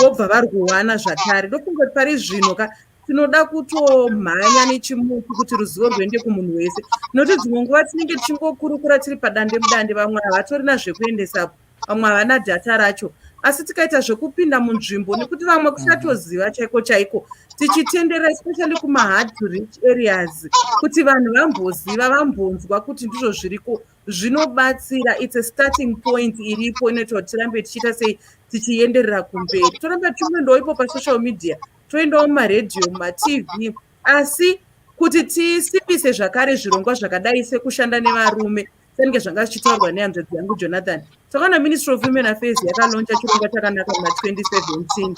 vobva vari kuwana zvakare ndofunga kuti pari zvino ka tinoda kutomhanya nechimuti kuti ruzivo rwuende kumunhu wese nokuti dzimwe nguva tinenge tichingokurukura tiri padande mudande vamwe havatorina zvekuendesapo vamwe havana data racho asi tikaita zvekupinda munzvimbo nekuti vamwe kuchatoziva chaiko chaiko tichitendera especially kumahard to rich areas kuti vanhu vamboziva vambonzwa kuti ndizvo zviriko zvinobatsira its a starting point iripo inoita kuti tirambe tichiita sei tichienderera kumberi toramba tichimwendawo ipo pasocial media toendawo mumaredhiyo mumatv asi kuti tisimbise zvakare zvirongwa zvakadai sekushanda nevarume senge zvanga zvichitaurwa nehanzvadzi yangu jonathan takaona ministry of women affairs yakaloncha chirongwa chakanaka muna 2017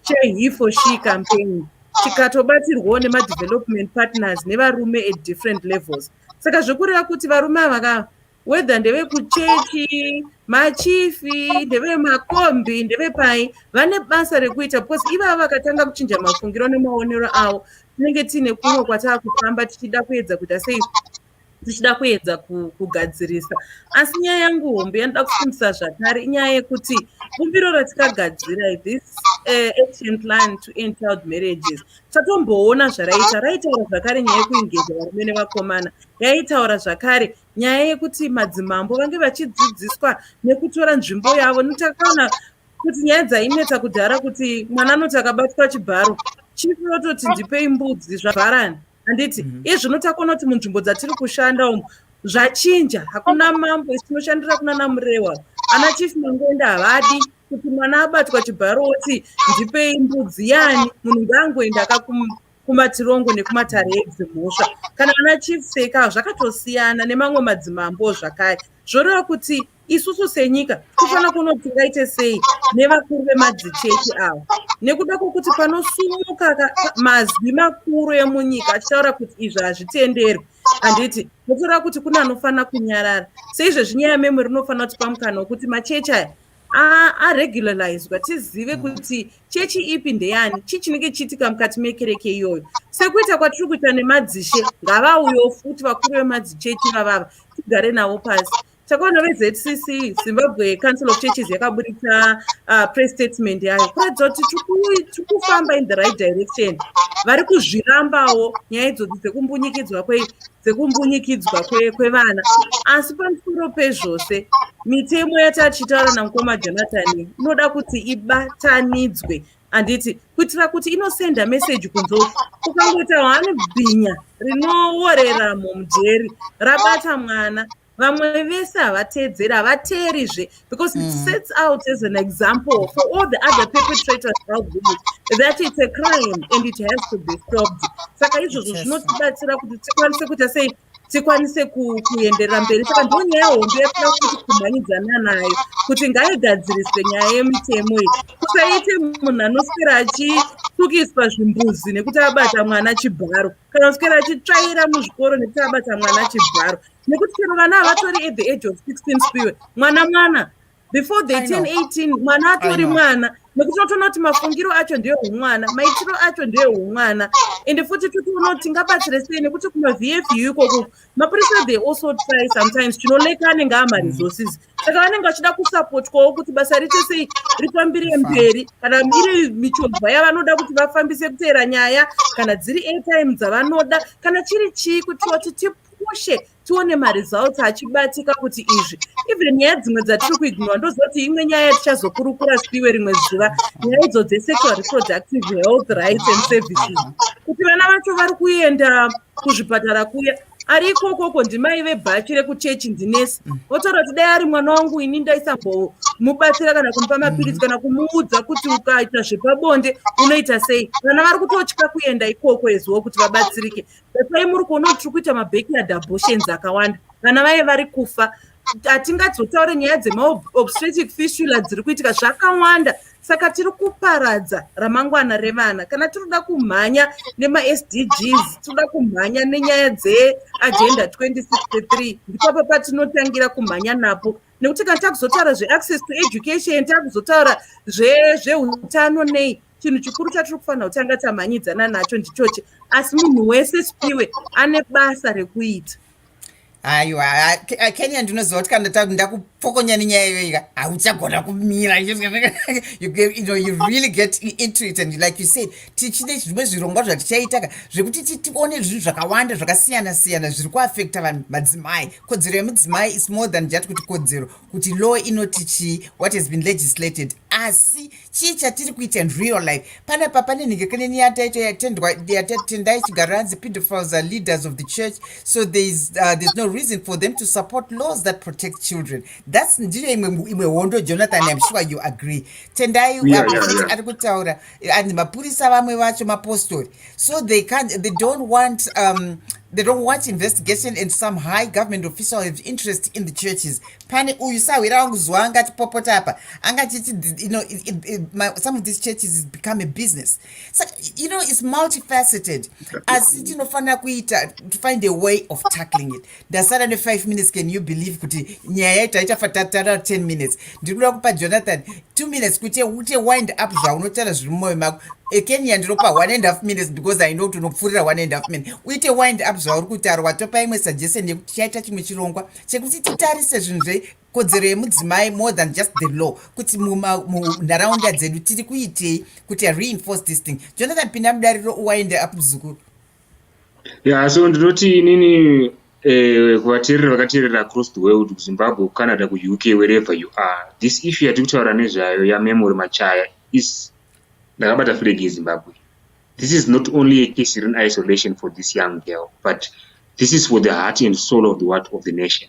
chehe for she campaign chikatobatsirwawo nemadevelopment partners nevarume at different levels saka zvekureva kuti varume ava ka whether ndevekuchechi machifi ndevemakombi ndevepai vane basa rekuita because ivava vakatanga kuchinja mafungiro nemaonero avo tinenge tiine kumwe kwataa kufamba tichida kuedza kuita sei tichida kuedza kugadzirisa asi nyaya yangu hombe yanoda kufundisa zvakare inyaya yekuti bumbiro ratikagadzira this uh, action plan to end child marriages tatomboona zvaraita raitaura zvakare nyaya yekuengeza varume nevakomana yaitaura zvakare nyaya yekuti madzimambo vange vachidzidziswa nekutora nzvimbo yavo notakaona kuti nyaya dzainetsa kudhara kuti mwana anoti akabatwa chibharo chifu yototi ndipei mbudzi zvavharani handiti mm -hmm. izvino takona kuti munzvimbo dzatiri kushanda umu zvachinja hakuna mambo isinoshandira kuna namurewa ana chief mangoenda havadi kuti mwana abatwa chibharo oti ndipei mbudzi yani munhu ngaangoenda akakumatirongo nekumatare edzimhosva kana ana chief seka zvakatosiyana nemamwe madzimambo zvakare zvoreva kuti isusu senyika tofanira kuona kuti tingaite sei nevakuru vemadzichechi ava nekuda kwokuti panosumuka mazwi makuru emunyika achitaura kuti izvi hazvitenderwi handiti totora kuti kune anofanira kunyarara seizvezvi nyaya memwe rinofanira kuti pamukana wekuti machechi aya aregularizwa tizive mm. kuti chechi ipi ndeyani chii chinenge chiitika mukati mekereke iyoyo sekuita kwatiri kuita nemadzishe ngavauyo futi vakuru vemadzichechi vavava tigare navo pasi takaona vezcc zimbabwe council of churches yakaburitsa uh, press statement yayo kuratidza kuti tiri kufamba in the right direction vari kuzvirambawo nyaya idzodzi dzekumbunyikidzwa kwei dzekumbunyikidzwa kwevana asi pamusoro pezvose mitemo yatatichitaura namukoma jonathan inoda kuti ibatanidzwe handiti kuitira kuti inosenda meseji kunzoku ukangoita hwani bhinya rinoworera mumujeri rabata mwana vamwe vese havateedzeri havateerizve because it mm. sets out as an example for all the other perpetrators out there that it's a crime and it has to be stopped saka izvozvo zvinotibatsira kuti tikwanise kuita sei tikwanise kuenderera mberi saka ndo nyaya hombe yatinoda kuti kumhanyidzana nayo kuti ngaigadziriswe nyaya yemitemo iyi kusaite munhu anoswera achitukiswa zvimbuzi nekuti abata mwana chibharo kana kuswera achitsvaira muzvikoro nekuti abata mwana chibharo nekuti chero vana havatori at the age of 16 spiwe mwana mwana before they turn 18 mwana atori mwana nekuti totoona kuti mafungiro acho ndiyo humwana maitiro acho ndiyo humwana ende futi totoona kuti tingabatsire sei nekuti kumavfu ikoko mapurisa they also try sometimes chinoleka anenge amaresources saka vanenge vachida kusapotwawo kuti basa riite sei rifambire mberi kana iri michovha yavanoda kuti vafambise kuteera nyaya kana dziri airtime dzavanoda kana chiri chii kuti vati tipu koshe tione maresults achibatika kuti izvi even nyaya dzimwe dzatiri kuignora ndoziva kuti imwe nyaya yatichazokurukura spiwe rimwe zuva nyaya idzo dzesexual reproductive health rights and services kuti vana vacho vari kuenda kuzvipatara kuya ari ikokoko ndimai vebhachi rekuchechi ndinesi votaura kuti dai ari mwana wangu ini ndaisambomubatsira kana kumupa mapiritsi kana kumuudza kuti ukaita zvepabonde unoita sei vana vari kutotya kuenda ikoko eziwo kuti vabatsirike Dai muri kuona kuti tiri kuita mabackyard abortions akawanda vana vaye vari kufa hatingadzotaure nyaya dzemaobstetic fistula dziri kuitika zvakawanda saka tiri kuparadza ramangwana revana kana tinoda kumhanya nemasdgs tinoda kumhanya nenyaya dzeagenda 2063 ndipapa patinotangira kumhanya napo nekuti kana takuzotaura zveaccess to education takuzotaura zveutano nei chinhu chikuru chatiri kufanira kutanga tamhanyidzana nacho ndichochi asi munhu wese spiwe ane basa rekuita aiwa kenya ndinoziva kuti kana ndakupokonya nenyaya iyoika hauchagona kumira you know you really get into it and like you said tichine zvimwe zvirongwa zvatichaitaka zvekuti tione zvinhu zvakawanda zvakasiyana siyana zviri kuafekta vanhu madzimai kodzero yemudzimai is more than just kuti kodzero kuti law inoti chii what has been legislated asi chii chatiri kuita in real life pana papa nenhengekaneni yataito yatendwa yatatenda ichigara hanzi pedophiles are leaders of the church so thereis uh, there's no reason for them to support laws that protect children thats ndiyo imwe imwe hondo jonathan im sure you agree tendai yeah, yeah, yeah. ari kutaura and mapurisa vamwe vacho mapostori so they can't they don't want um, they don't want investigation and some high government official have interest in the churches pane uyu sahwira wangu zuva angatipopota apa angachiti you know it, it, it, my, some of these churches is become a business so you know it's multifaceted asi tinofanira kuita to find a way of tackling it ndasara ne5 minutes can you believe kuti nyaya yaiti aichafa tatara 10 minutes ndiri kuda kupa jonathan 2 minutes kuti ute wind up zvaunotaura zviri mumwoyo mako ekenya ndinopa 1 and half minutes because i know kuti unopfuurira 1 and half minute uite wind up zvauri kutaura watopa imwe suggestion yekuti chaita chimwe chirongwa chekuti titarise zvinhu zve kodzero yemudzimai more than just the law kuti munharaunda dzedu tiri kuitei kuti reinforce this thing jonathan pinda mudariro uwaende up muzukuru Yeah, so ndinoti inini eh, kuvateereri vakateerera across the world kuzimbabwe kucanada kuuk wherever you are this issue yatiri kutaura nezvayo yamemory machaya is ndakabata flag yezimbabwe this is not only a case iri in isolation for this young girl but this is for the heart and soul of the what of the nation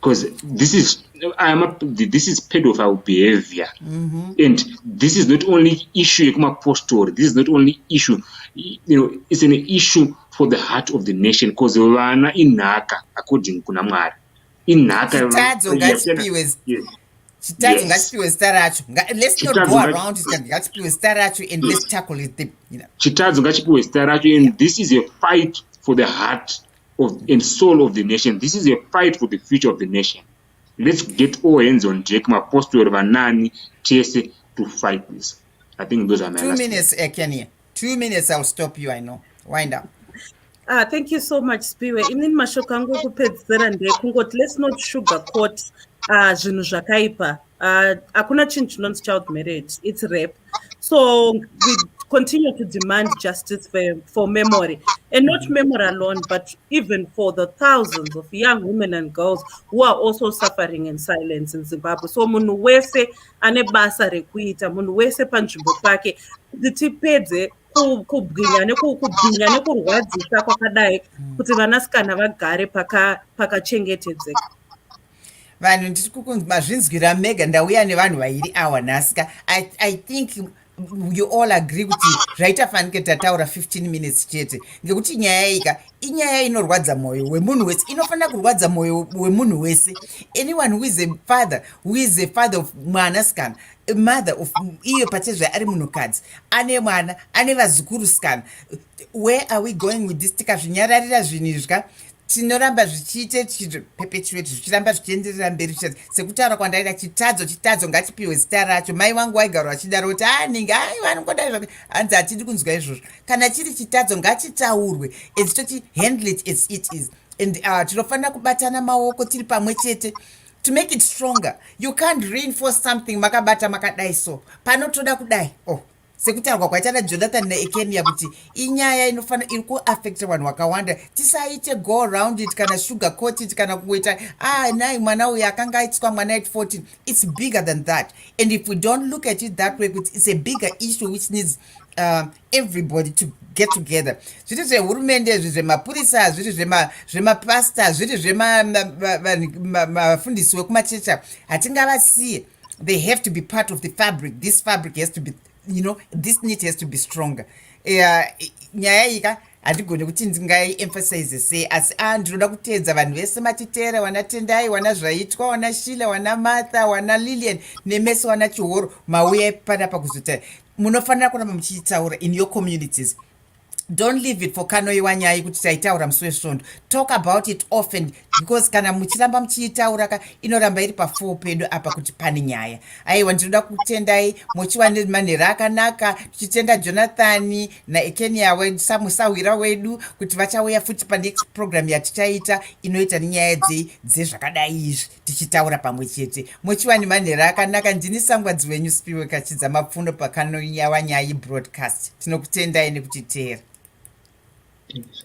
because this is I'm a, this is pedophile behavior mm -hmm. and this is not only issue yekumapostori this is not only issue you know it's an issue for the heart of the nation because vana inhaka according kuna mwari inhaka chitadzo ngachipiwe chitadzo ngachipiwe zita racho let's not go around ngachipiwe zita racho and let's tackle it chitadzo ngachipiwe zita racho and this is a fight for the heart of, and soul of the nation this is a fight for the future of the nation let's get all hands on deck mapostori vanani tese to fight this i think those are my two minutes eh, kenya two minutes i'll stop you i know wind up Ah, thank you so much spiwe inini mashoko angu ekupedzisira ndekungoti let's not sugar court ah, zvinhu zvakaipa uh, hakuna chinhu chinonzi child marriage its rape so we continue to demand justice for, for memory and not memory alone but even for the thousands of young women and girls who are also suffering in silence in zimbabwe so munhu wese ane basa rekuita munhu wese panzvimbo pake kuti tipedze kubwinya nekubwinya nekurwadzisa kwakadai kuti vanasikana vagare pakachengetedzeka paka vanhu ndiri kukunzi mazvinzwira mega ndauya nevanhu vairi awa nhasika I, i think you all agree kuti zvaita fanike tataura 15 minutes chete ngekuti nyaya ika inyaya inorwadza mwoyo wemunhu wese inofanira kurwadza mwoyo wemunhu wese anyone who is a father who is a father of mwanasikana mother of iyo pachezve ari munhukadzi ane mwana ane vazukuru sikana where are we going with this tikazvinyararira zvinhu izvi ka tinoramba zvichiite tichiperpetuate zvichiramba zvichienderera mberi zvichaz sekutaura kwandaita chitadzo chitadzo ngachipiwe zita racho mai vangu waigaro vachidaro kuti anenge ah, ai vanongoda zva hanzi hatidi kunzwa izvozvo kana chiri chitadzo ngachitaurwe and toti handle it as it is and uh, tinofanira kubatana maoko tiri pamwe chete to make it stronger you can't reinforce something makabata makadai so panotoda kudai oh sekutaurwa kwaita najonathan naekenia kuti inyaya inofanira iri kuaffecta vanhu vakawanda tisaite go around it kana sugar coat it kana kungoita ah nai mwana uyu akanga aitiswa mwana at 14 its bigger than that and if we don't look at it that way kuti its a bigger issue which needs uh, everybody to get together zviri zvehurumende zviri zvemapurisa zviri zvemapasta zviri zvemafundisi wekumachecha hatingavasiye they have to be part of the fabric this fabric has to be you know this need has to be stronger eh, nyaya iyi ka handigone kuti ndingaiemphasize sei asi a ah, ndinoda kuteedza vanhu vese matitera wana tendai wana zvaitwa wana shila wana martha wana lilian nemese wana chihoro mauya panapa kuzotara munofanira kuramba muchiitaura in your communities don't leave it for kanoiwa nyaya yekuti taitaura musi wesvondo talk about it often because kana muchiramba muchiitaura ka inoramba iri pafuo pedu apa kuti pane nyaya aiwa ndinoda kutendai mochiwa nemanhera akanaka tichitenda jonathani naekenia wesamusahwira wedu kuti vachauya futi panext program yatichaita inoita nenyaya dzei dzezvakadai izvi tichitaura pamwe chete mochiwani manhero akanaka ndini sangwadzi wenyu spiwe kachidza mapfuno pakanonyawa nyaya yebroadcast tinokutendai nekutiteera Thank you.